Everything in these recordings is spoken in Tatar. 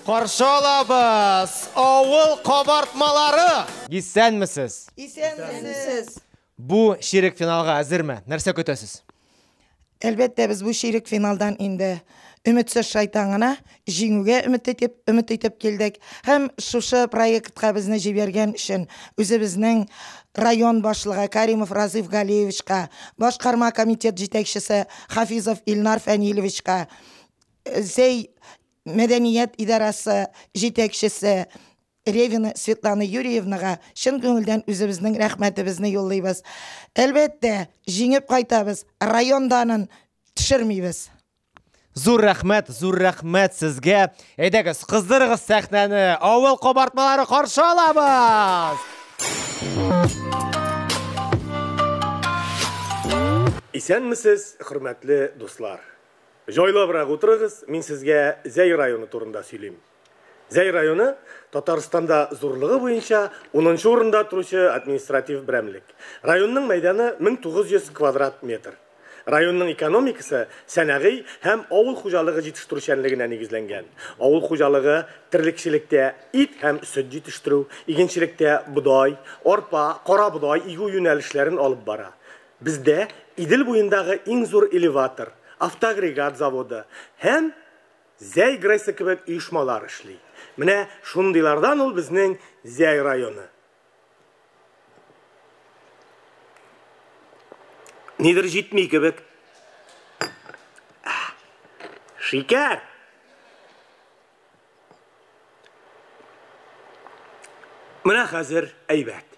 Каршы алабыз! Авыл кабартмалары! Исәнмесез! Исәнмесез! Бу ширек финалга әзерме? Нәрсә көтәсез? Әлбәттә, без бу ширек финалдан инде өметсез шайтан гына, җиңүгә өмет итеп, өмет итеп килдек. Һәм шушы проектка безне җибәргән өчен үзебезнең район башлыгы Каримов Разыйф Галиевичка, башкарма комитет җитәкчесе Хафизов Илнар Фәнилевичка, Зәй мәдәният идарәсе җитәкчесе Ревина Светлана Юрьевнага чын күңелдән үзебезнең рәхмәтебезне юллыйбыз. Әлбәттә, җиңеп кайтабыз, район данын төшермибез. Зур рәхмәт, зур рәхмәт сезгә. Әйдәгез, кыздырыгыз сәхнәне. Авыл кабартмалары каршы алабыз. Исәнмесез, хөрмәтле дуслар. Җайлабрак утырыгыз, мин сезгә Зәй районы турында сөйлим. Зәй районы Татарстанда зурлыгы буенча унынчы урында торучы административ берәмлек. Районның мәйданы 1900 квадрат метр. Районның экономикасы сәнәгый һәм авыл хуҗалыгы җитештерүчәнлегенә нигезләнгән. Авыл хуҗалыгы, терлекчелектә, ит һәм сөт җитештерү, игенчелектә бодай, арпа, карабодай игү юнәлешләрен алып бара. Бездә Идел буендагы иң зур элеватор, автоагрегат заводы һәм. Зәй Грейсы кебек оешмалар эшли. Менә шундыйлардан ул безнең Зәй районы. Нидер җитми кебек. Шикәр! Менә хәзер әйбәт.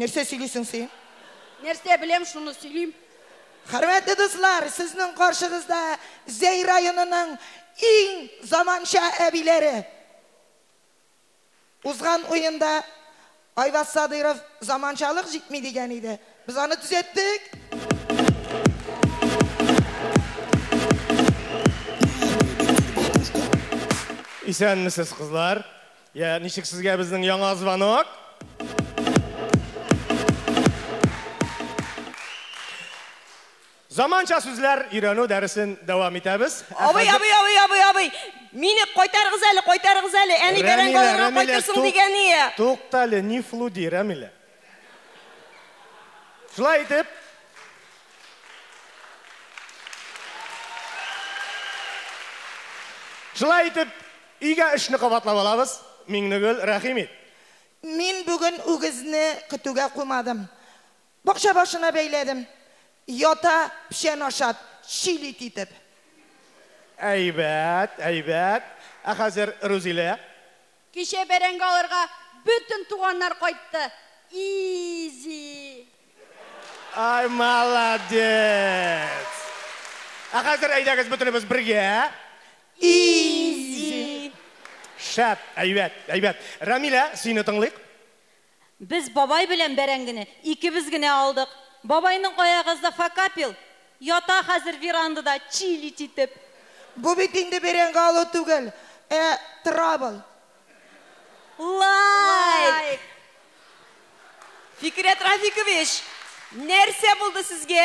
Нәрсә сөйлисең син? Нәрсә беләм, шуны сөйлим. Хөрмәтле дуслар, сезнең каршыгызда Зәй районының иң заманча әбиләре. Узган уенда Айваз Садыйров заманчалык җитми дигән иде. Без аны төзәттек. Исәнмесез, кызлар. Я, ничек сезгә безнең яңа звонок? Заманча сүзләр өйрәнү дәресен дәвам итәбез. Абый, абый, абый, абый, абый. Мине кайтарыгыз әле, кайтарыгыз әле. Әни бәрәңге алырга кайтырсың дигән ие. Туктале, не флуди, Рәмилә. Шулай итеп, Шулай итеп, өйгә эшне кабатлап алабыз. Миңнегөл, рәхим ит. Мин бүген үгезне көтүгә куймадым. Бакча башына бәйләдем. Ята, печән ашат, чил ит итеп. Әйбәт, әйбәт. Ә хәзер, Рузилә, Кичә бәрәңге алырга бөтен туганнар кайтты. Изи. Ай молодец! Ә хәзер әйдәгез бөтенебез бергә. Изи. Шәп, әйбәт, әйбәт. Рәмилә, сине тыңлыйк. Без бабай белән бәрәңгене икебез генә алдык. Бабайның аягазда факапил, ята хәзер верандада чилить итеп. Бу бит инде бәрәңге алу түгел, ә травл. Лайк! Фикерят Рафикович, нәрсә булды сезгә?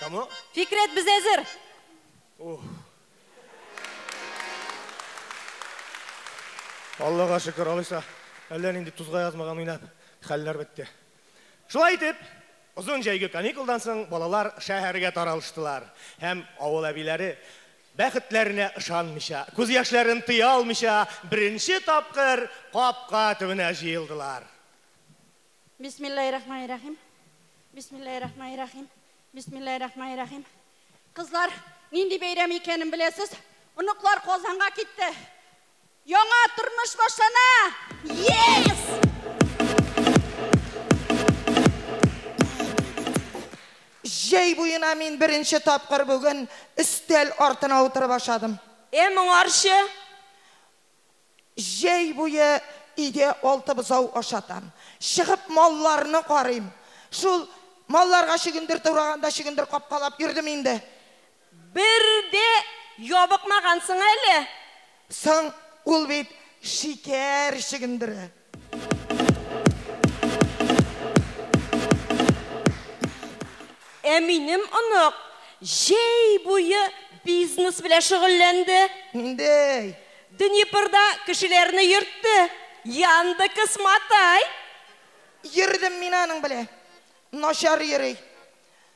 Кому? Фикрәт, без әзер! Ух. Аллага шөкер, алайса, әллә нинди тузга язмаган уйнап, хәлләр бетте. Шулай итеп, озын җәйге каникулдан соң балалар шәһәргә таралыштылар һәм авыл әбиләре Бәхетләренә ышанмыйча, күз яшьләрен тыя алмыйча, беренче тапкыр капка төбенә җыелдылар. Бисмиллаһиррахманиррахим. Бисмиллаһиррахманиррахим. Бисмиллаһиррахманиррахим. Кызлар, нинди бәйрәм икәнен беләсез? Оныклар Казанга китте. Яңа тормыш башлана! Yes! Җәй буена мин беренче тапкыр бүген өстәл артына утырып ашадым. Э, моңарчы? Җәй буе өйдә алты бозау ашатам. Чыгып малларны карыйм. Шул малларга чөгендер тураганда чөгендер капкалап йөрдем инде. Бер дә ябыкмагансың әле. Соң, ул бит шикәр чөгендере. Ә минем онык җәй буе бизнес белән шөгыльләнде. Ниндәй? Днепрда кешеләрне йөртте. Яндекс Матай. Йөрдем мин аның белән. Начар йөри.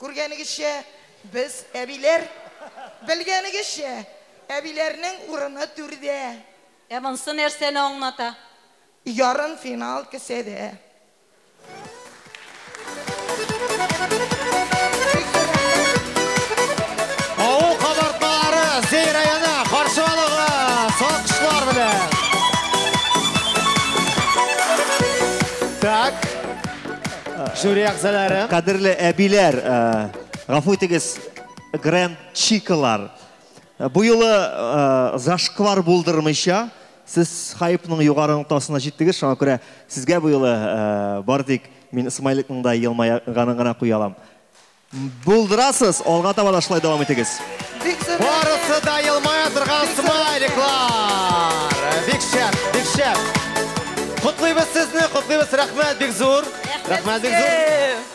Күргәнегезчә, без, әбиләр, белгәнегезчә, әбиләрнең урыны түрдә. Ә монсы нәрсәне аңлата? Ярымфинал кесәдә. Жюри әгъзалары. Кадерле әбиләр, гафу итегез, гранд чикалар. Бу юлы зашквар булдырмыйча, сез хайпның югары ноктасына җиттегез, шуңа күрә сезгә бу юлы бар тик мин Смайликның да елмайганын гына куя алам. Булдырасыз, алга таба да шулай дәвам итегез. Барысы да елмая торган смайликлар. Бик шәп, бик шәп. Котлыйбыз сезне, котлыйбыз. Рәхмәт бик зур. Рәхмәт бик зур.